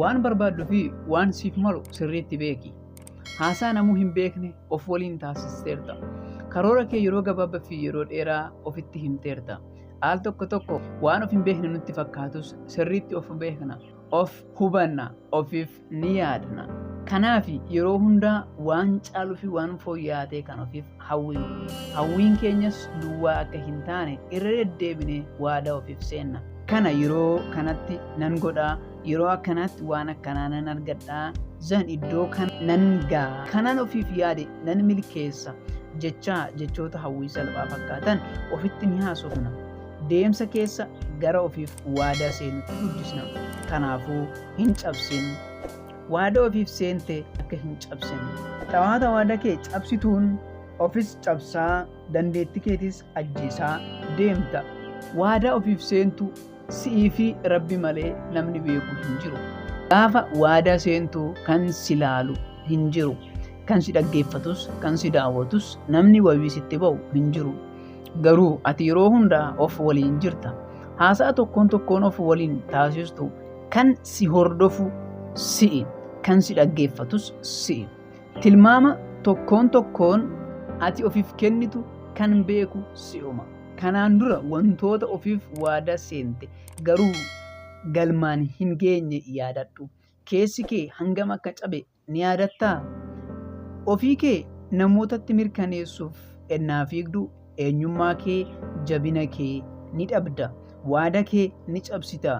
Waan barbaaddu fi waan siif malu sirriitti beeki. Haasaa namuu hin beekne of waliin taasisteerta. Karoora kee yeroo gabaabaa fi yeroo dheeraa ofitti himteerta. Al tokko tokko waan of hin beekne nutti fakkaatus sirriitti of beekna, of hubanna, ofiif ni yaadna. Kanaaf yeroo hundaa waan caaluu fi waan fooyya'aa ta'e kan ofiif hawwinu. Hawwiin keenyas duwwaa akka hin taane irra deddeebinee waadaa ofiif seenna. Kana yeroo kanatti nan godha, yeroo akkanaatti waan akkanaa nan argadha zan iddoo kan nan ga'a kanan ofiif yaade nan milkeessa jechaa jechoota hawwii salphaa fakkaatan ofitti ni haasofna deemsa keessa gara ofiif waadaa seenutti guddisna kanaafuu hin cabsin waadaa ofiif seente akka hin cabsin xawaata waadaa kee cabsituun ofis cabsaa dandeetti keetis ajjeesaa deemta waadaa ofiif seentu Si'ii fi Rabbi malee namni beeku hin jiru. Gaafa waadaa seentu kan si laalu hin jiru. Kan si dhaggeeffatus, kan si daawwatus namni wabii sitti ba'u hin jiru. Garuu ati yeroo hundaa of waliin jirta. Haasa'a tokkoon tokkoon of waliin taasistu kan si hordofu si'i. Kan si dhaggeeffatus si'i. Tilmaama tokkoon tokkoon ati ofiif kennitu kan beeku si'uma. Kanaan dura wantoota ofiif waadaa seente garuu galmaan hin geenye yaadadhu. Keessi kee hangam akka cabe ni yaadattaa? Ofii kee namootatti mirkaneessuuf ennaa fiigdu eenyummaa kee, jabina kee ni dhabda. Waada kee ni cabsita.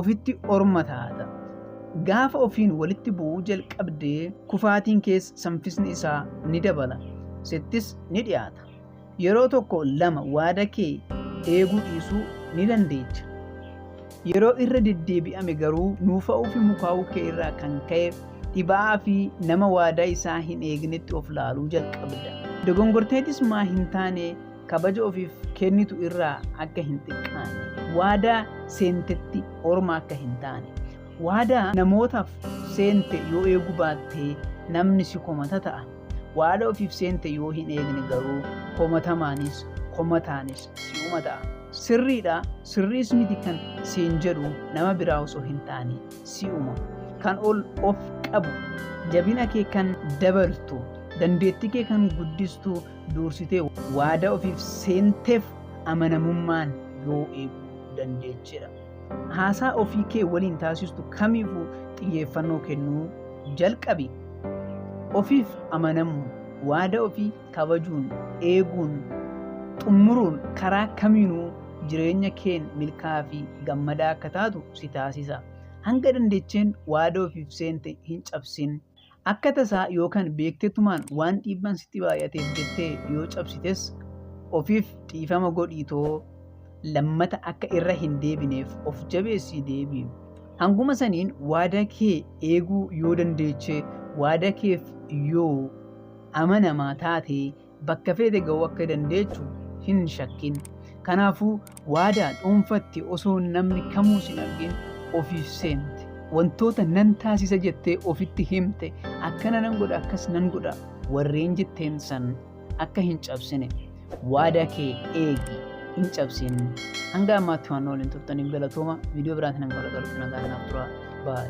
Ofitti orma taata. Gaafa ofiin walitti bu'uu jalqabde kufaatiin kees sanfisni isaa ni dabala. Sittis ni dhiyaata. Yeroo tokko lama waada kee eeguu dhiisuu ni dandeecha. Yeroo irra deddeebi'ame garuu nuufa'uu fi mukaa'uu kee irraa kan ka'e dhiba'aa fi nama waadaa isaa hin eegnetti of laaluu jalqabda. Dogongorteetis maa hin taane kabaja ofiif kennitu irraa akka hin xiqqaanne. Waadaa seentetti orma akka hin taane. Waadaa namootaaf seente yoo eeguu baatte namni si komata ta'a. Waada ofiif seente yoo hin eegne garuu komatamaanis komataanis si'uma ta'a. Sirriidha sirriis miti kan siin jedhu nama biraa osoo hin taane si'uma. Kan ol of qabu jabina kee kan dabaltu dandeettii kee kan guddistu duursitee waada ofiif seenteef amanamummaan yoo eeguu dandeechidha. Haasaa ofii kee waliin taasistu kamiifuu xiyyeeffannoo kennuu jalqabi. Ofiif amanamuun, waada ofii kabajuun, eeguun, xumuruun karaa kamiinuu jireenya keen milkaa'aa fi gammadaa akka taatu si taasisa. Hanga dandecheen waada ofiif seente hin cabsin. Akka tasaa yookaan beektetumaan waan dhiibbaan sitti baay'ateef jettee yoo cabsites ofiif dhiifama godhiitoo lammata akka irra hin deebineef of jabeessii deebiin. Hanguma saniin waada kee eeguu yoo dandeechee waada keef yoo amanamaa taatee bakka feete ga'uu akka dandeechu hin shakkin. Kanaafuu waadaa dhuunfatti osoo namni kamuu sin argin ofiif seente. Wantoota nan taasisa jettee ofitti himte akkana nan godha akkas nan godha warreen jetteen san akka hin cabsine waadaa kee eegi hin cabsin. Hanga ammaatti waan waliin turtaniif galatooma viidiyoo biraatiin hanga wal galutti nagaan naaf tura. Bye.